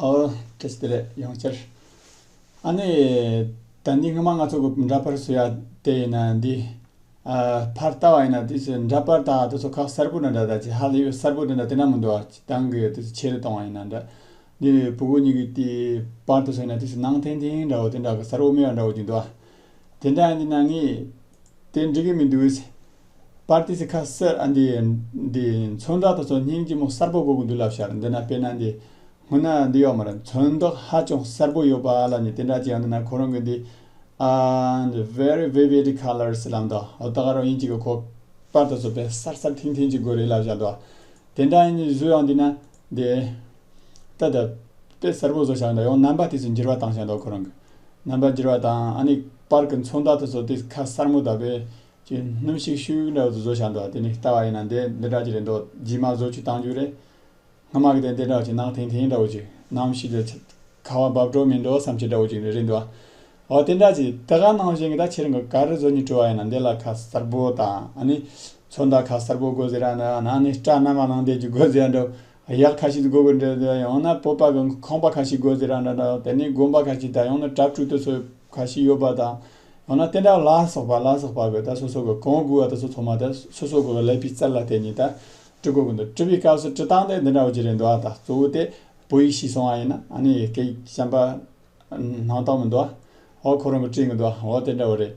ཨོ། ཁྱེད་ཀྱི་དེ་ལས་ཡོང་ཕྱིར། ཨ་ནི། ད་འདི་སྔོན་མ་ང་ཚོ་འདྲ་པར་བཟོས་ཡ་དེ་ཡིན་ན་འདི། ཕར་ལྟ་བ་ཡིན་ན་དེ་ཚོས་འདྲ་པར་དག་དེ་ཚོ་ཁག་གསར་བུ་འདྲ་འདྲ་དག་ཅིག་ཧ་ལས་ཡོད་གསར་བུ་འདྲ་འདྲ་དེ་འདྲ་མི་འདུག་ཨ་ཅེ་ཏང་གིས་དེ་ཚོ་ཆེ་རུ་གཏོང་བ་ཡིན་ན་འདྲ། འདི་བུ་གུ་གཉིས་ཀྱི་དེ་པར་དུ་བཟོས་ན་དེ་ཚོ་ནང་ཐིང་ཐིང་འདྲ་བོ་དེ་འདྲ་གི་གསར་བུ་མེད་པ་འདྲ་བོ་ཅིག་འདུག་ཨ། དེ་འདྲ་འདི་ན་ངས་དེ་འགྲིག་གི་མི་འདུག་ཨེ། པར་ཏི་སི་ཁ་སེར་ཨ་འདི་འདི་མཚོན་རྟགས་དང་མཚོན་སྙིང་ལྕི་མོ་གསར་པོ་དགོས་ཀྱི་འདུག་ལབ་ཤར་འདི་ན་དཔེ་ན་འདི་སྔོན་ན་འདི་ཡོག་མ་རེད་མཚོན་རྟགས་ཧ་ཅང་གསར་པོ་ཡོད་པ་ལ་ནི་དེ་འདྲ་ཅི་ཡང་འདི་ན་ཁོ་རང་གི་འདི་ཨ་འདི very vivid colours ལབ་འདུག་ཨོ་ད་ག་རང་ཡིན་གཅིག་གི་ཁོ་པར་དང་མཚོན་དཔེ་གསར་གསར་ཐིང་ཐིང་གཅིག་དགོས་རེད་ལབ་ཤར་འདུག་དེ་འདྲ་ཡིན་བཟོས་ཡང་འདི་ན་འདི་ད་ད་དཔེ་གསར་པོ་བཟོ་ཤར་འདུག་ཡང་རྣམ་པ་དེ་ཚོ་འགྱུར་བ་བཏང་ཤར་འདུག་ཁོ་རང་གི་རྣམ་པ་འགྱུར་བ་དང་ཨ་ནི་པར་གི་མཚོན་རྟགས་དང་མཚོན་དཔེ་ཁ་གསར་མོ་ད་པས་ཅེས་སྣུམ་ཞིག་ཤུལ་འོག་ཏུ་བཟོ་བཞག་འདུག་དེ་ནི་ལྟ་བ་ཡིན་ན་འདི་འདི་འདྲ་ཅིག་རེད་འདོད་རྗེས་མ་བཟོ་བཅུག་བཏང་རྒྱུ་རེད། སྔ་མ་གི་དེ་འདི་འདྲ་བ་ཅིག་ནང་དེང་དེང་འདྲ་བོ་ཅིག་ནམ་ཞིག་ལས། ཁ་བ་འབབ་འགྲོ་མི་འགྲོ་བསམ་ཆེད་འདྲ་བོ་ཅིག་རེད་འདོད། འོ་དེ་འདྲ་ཅིག་དེ་ག་ནང་བཞིན་གྱི་ད་ཕྱིར་འགའ་རེ་བཟོ་སྙིང་བྲི་བ་ཡིན་ན་འདི་ལ་ཁ་གསར་པོ་དང་ཨ་ནི། ཚོན་མདའ་ཁ་གསར་པོ་དགོས་ཟེར་ཡ་འདྲ་ན་ཨ་ནི་སྐྲ་སྣ་མ་ནང་འདེད་རྒྱུ་དགོས་ཟེར་ཡ་འདྲ། གཡག་ཁ་ཞིག་དགོས་དགོས་འདྲ་ཡང་ན་སྤོབས་པ་གི་ཁང་པ་ཁ་ཞིག་དགོས་ཟེར་ཡ་འདྲ་འདྲ་དེ་ནི་དགོན་པ་ཁ་ཞིག་དང་ཡང་ན་གྲྭ་བཙུགས་དུས་ཚོད་ཁ་ཞིག་ཡོད་པ་དང། ཡང་ན་སྟན་དག་ལ་སོགས་པ་ལ་སོགས་པ་བས་ད་སོ་སོ་གོ་གོང་བསྒུལ་བ་དང་སོ་ཚོགས་མ་དེ་སོ་སོ་གོ་བའི་ལས་པའི་རྩལ་ལ་བརྟེན་ནས་ད་དཀྲི་གོ་གོ་འདུག་དཀྲི་བའི་སྐབས་སུ་དཀྲི་སྟངས་དེ་འདི་འདྲ་བ་ཇི་རེད་འདུག་ཨ་ད་གཙོ་བོ་དེ་བོད་ཡིག་ཤེས་སོང་བ་ཡིན་ན་ནི་སྐད་ཡིག་གཞན་པ་སྣང་དག་མི་འདུག་ཨ་འོ་ཁོ་རང་གི་དཀྲིས་གི་འདུག་ཨ་འོ་དེ་འདྲ་བ་རེད།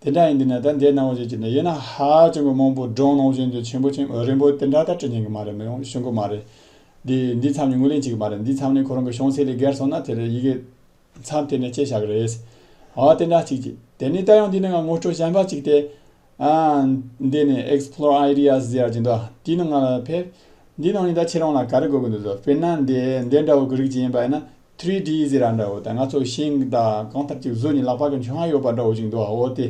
དེ་འདྲ་ཡིན་དུས་ན་ད་འདྲའི་སྣང་བ་ཞིག་སྐྱེས་འདུག་ཡིན་ན་ཧ་ཅང་གི་མང་པོ་སྒྲུང་ནང་བཞིན་དུ་ཆེན་པོ་ཆེན་རིང་པོ་དེ་འདྲ་ད་དཀྲི་མྱོང་གི་མ་རེད་མི་ཡོང་ཤོང་གི་མ་རེད། འདི་འདི་མཚམས་ནས་ངོས་ལེན་བྱེད་ཀྱི་མ་རེད་འདི་མཚམས་ནས་ཁོ་རང་གི་ཤོང་སའི་ལས་བརྒལ་སོང་ན་དེ་རེད་ཡི་གེ་མཚམས་དེ་ནས་ཁྱེད་བཞག་རེད། ཨོ་དེ་འདྲ་ཅིག། དེ་ནས་ད་ཡང་འདི་ནས་ང་ངོ་སྤྲོད་གཞན་པ་ཅིག་སྟེ། འདི་ནི Explore Ideas ཟེར་གྱི་འདུག་དེའི་ནང་ང་ལ་ཕེབས། འདིའི་ནང་ནས་ད་ཁྱེད་རང་ལ་ག་རེ་དགོས་ཀྱི་འདུག་དཔེར་ན་འདི་འདི་འདྲ་བོ་གི་རིགས་ཅིག་ཡིན་པ་ཡིན་ན། Three D ཟེར་ར་འདྲ་བོ་དང་ང་ཚོ་ཤིང་དང་གང་ཐབས་ཅིག་བཟོས་ནས་ལག་པ་གི་མཆོང་ཡ་ཡོད་པ་འདྲ་བོ་ཅིག་འདུག་ཨོ་དེ།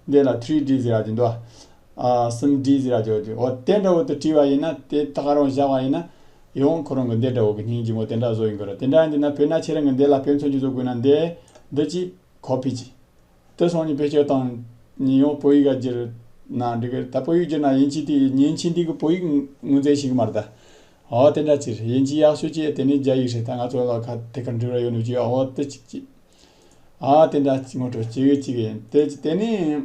འདི་ལ Three D ཟེར་གྱི་འདུག་གསུམ D ཟེར་གྱི་འདུག་ཨོ་དེ་འདྲ་བོ་དུ་བྲིས་པ་ཡིན་ན་དེ་ད་ག་རང་བཞག་པ་ཡིན་ན། ཡིད་འོང་ཁོ་རང་གི་འདས་དགྲ་བོ་གི་སྙིང་རྗེ་མོ་དེ་འདྲ་བཟོ་ཡི་འགོད་ར་དེ་འདྲ་ཡིན་དུས་ན་བོད་ན་ཁྱེད་རང་གི་འདས་ལ་ཕན་ཚུན་གྱི་བཟོ་དགོས་ན་འདས་འདི་ཅི་གོ་ཕིད་ཅི། དེ་སོང་ཉིན་བེད་སྤྱོད་དང། ཉིན་ཡོང་བོད་ཡིག་ག་བསྒྱུར། ན་འགྲིག་གི་ད་བོད་ཡིག་བསྒྱུར་ན་ཡིན་ཅི་དེ་ཉིན་ཕྱི་འདི་གི་བོད་ཡིག་ངོས་འཛིན་ཞིག་མ་རེད་ད། འོ་དེ་འདྲ་ཅིར་ཡིན་ཅི་ཡག་ཤོས་ཅི་དེ་ནི་རྒྱ་ཡིག་རེད་ད་ང་ཚོ་ལ་ཁ་དེ་གར་འགྲིག་ར་ཡོད་ནུས་ཅི་འོ་དེ་ཅིག་ཅི། ཨ་དེ་འདྲ་ངོ་སྤྲོད་ཅིག་ཅིག་ཡིན་དེ་ཅི་དེ་ནི།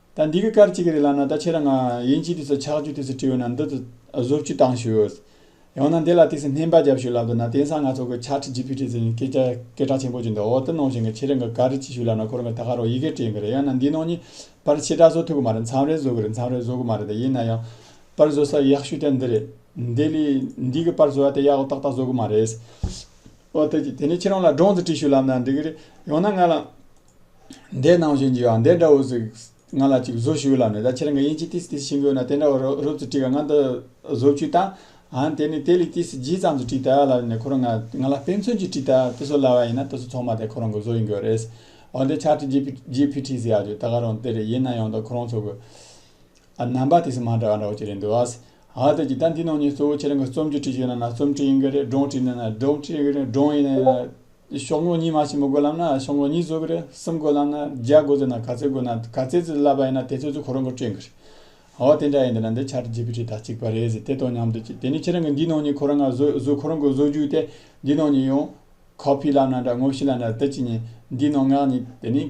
ད་འདི་གི་སྐར་ཅིག་རེད་ལབ་ན་ད་ཁྱེད་རང་ཡིན་གཅིག་དུས་སུ་ཆག་རྒྱུ་དུས་སུ་བྲིས་འོ་ན་འདི་དུ་བཟོ་བཅུག་བཏང་ཞུས། ཡང་ན་འདི་ལ་དུས་སུ་སྨན་པ་རྒྱབ་ཞུས་ལབ་འདུག་ན་དེང་སང་ང་ཚོ་གི་ཕྱག་ཁྲིད་ཀྱི་ཕུལ་ཁྲིད་ཟེར་ནས་སྐད་ཆ་སྐད་གྲགས་ཆེན་པོ་བརྗོད་འདུག་འོ་དེ་ནང་བཞིན་གི་ཁྱེད་རང་གི་ག་རེ་ཅིག་ཞུས་ལབ་ན་ཁོ་རང་གི་ད་ག་རོག་ཡི་གེ་དྲན་གི་རེད་ཡང་ན་འདི་ནང་གཉིས་པར་ཕྱི་དྲག་བཟོ་ཐུབ་གི་མ་རེད་མཚམས་རེ་བཟོ་གི་རེད་མཚམས་རེ་བཟོ་གི་མ་རེད་དེ་ཡིན་ན་ཡང། པར་བཟོ་ས་ཡག་ཤོས་དེ་འདི་རེད། འདི་ལས་འདི་གི་པར་བཟོ་བ་དེ་ཡག་པོ་ཏག་ཏག་བཟོ་གི་མ་རེད། འོ་དེ་ནས་ཁྱེད་རང་ལ་སྒྲོངས་ཙི་བྲིས་ཞུས་ལབ་ན་འགྲིག་གི་རེད་ཡང་ན་ང་ལ། འདས་གནང་བཞིན་གྱི་ཨ་འདས་འདྲ་བོ་ཟིག་ང་ལ་ཅིག་བཟོ་ཞུ་ལབ་ནས་ད་ཁྱེད་རང་གི་དབྱིན་ཇི་ཏིས་ཏིས་ཤིང་དགོས་ན་དེ་འདྲ་བོ་རོབ་རོབ་ཙི་བྲིས་ག་ང་འདི་བཟོ་བཅུས་ད་ཨ་དེ་ནི་ཏེ་ལི་ཏིས་ཏིས་ཇི་ཙམ་ཙི་བྲིས་ད་ལབ་ནས་ཁོ་རང་ང་ལ་དཔེ་མཚོན་གྱིས་བྲིས་ད་དེ་བཟོ་ལབ་བ་ཡིན་ན་ད་གཟུགས་ཚོགས་མ་དེ་ཁོ་རང་གི་བཟོ་ཡིན་དགོས་རེད། ཨོ་འདས་ཕྱག་བྲིས་ཇི་ཕི་བྲིས་ཟེར་ཡག་རྒྱུ་ད་ག་རང་དེ་རེད་ཡིན་ན་ཡང་ད་ཁོ་རང་ཚོ་གི་ཨ་རྣམ་པ་ཏིས་མ་འདྲ་བ་འདྲ་བོ་ཅིག་རེད་འདུག་ཨ་ཨ་དེ་གྱིས་ད་འདི་ནང་ཉིད་གཙོ་བོ་ཁྱེད་རང་གི་རྩོམ་རྒྱུ་བྲིས་ཞུས་ན་ན་རྩོམ་བྲིས་ཡིན་གྱི་རེད་སྒྲུང་བྲིས་ཡིན་ན་ན་སྒྲུང་བྲིས་ཡིན་གྱི་རེད་སྒྲུང་ཡིན་ན་ན། ཤོག་ངོ་གཉིས་མ་ཞིག་མི་དགོས་ལབ་ན་ཤོག་ངོ་གཉིས་བཟོ་གི་རེད་གསུམ་དགོས་ལབ་ན་བརྒྱ་དགོས་ཟེར་ན་ག་ཚད་དགོས་ན་ག་ཚད་ཙི་ཙི་ལབ་པ་ཡིན་ན་དེ་ཚོད་ཚོད་ཁོ་རང་གིས་སྤྲོད་གི་རེད་འོ་དེ་འདྲ་ཡིན་དེ་ན་འདི་ཆར་རྒྱས་པའི་གྲས་ད་གཅིག་པ་རེད་ཟེར་དེ་ཐོག་ཉམས་དུ་བཅུག་དེ་ནས་ཁྱེད་རང་གིས་འདིའི་ནང་ཉིད་ཁོ་རང་ག་བཟོས་བཟོས་ཁོ་རང་གིས་བཟོ་རྒྱུ་དེ་འདིའི་ནང་ཉིད་ཡོང copy ལབ་ན་འདྲ་ངོ་ཤེས་ལབ་ན་འདྲ་དེ་གཅིག་ཉིད་འདིའི་ནང་ངག་ཉིད་དེ་ནས་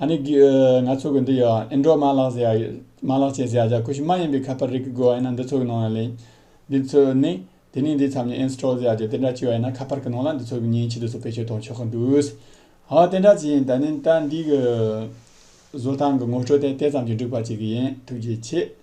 ཨ་ནི། ང་ཚོ་གི་འདི་ཡོད་ཨ་ཨེ་འགྲོ་མ་ལགས་ཟེར་ཡག་ཡོད། མ་ལགས་བྱས་ཟེར་ཡག་ཡག་ཁུ་ཤི་མ་ཡིན་པའི་ཁ་པར་རིགས་ཀྱི་དགོས་ཨེ་ན་འདི་ཚོ་གི་ནང་ཡང་ལེན། འདི་ཚོས་ནི། དེ་ནས་འདི་ཚམ་ནས install ཟེར་ཡག་ཅེས་དེ་འདྲ་བྱས་ཨེ་ན་ཁ་པར་གི་ནང་ལ་འདི་ཚོ་གི་ཉིན་ཕྱེད་དུས་སུ་བེད་སྤྱོད་གཏོང་ཆོག་གི་འདུག། ཧོ་དེ་འདྲ་བྱས་ཡིན་ད་ནི་ད་འདི་གི། བཟོ་སྟངས་གི་ངོ་སྤྲོད་དེ་དེ་ཙམ་གྱིས་འགྲིག་པ་ཅིག་ཡིན་ཐུགས་རྗེ་ཆེ།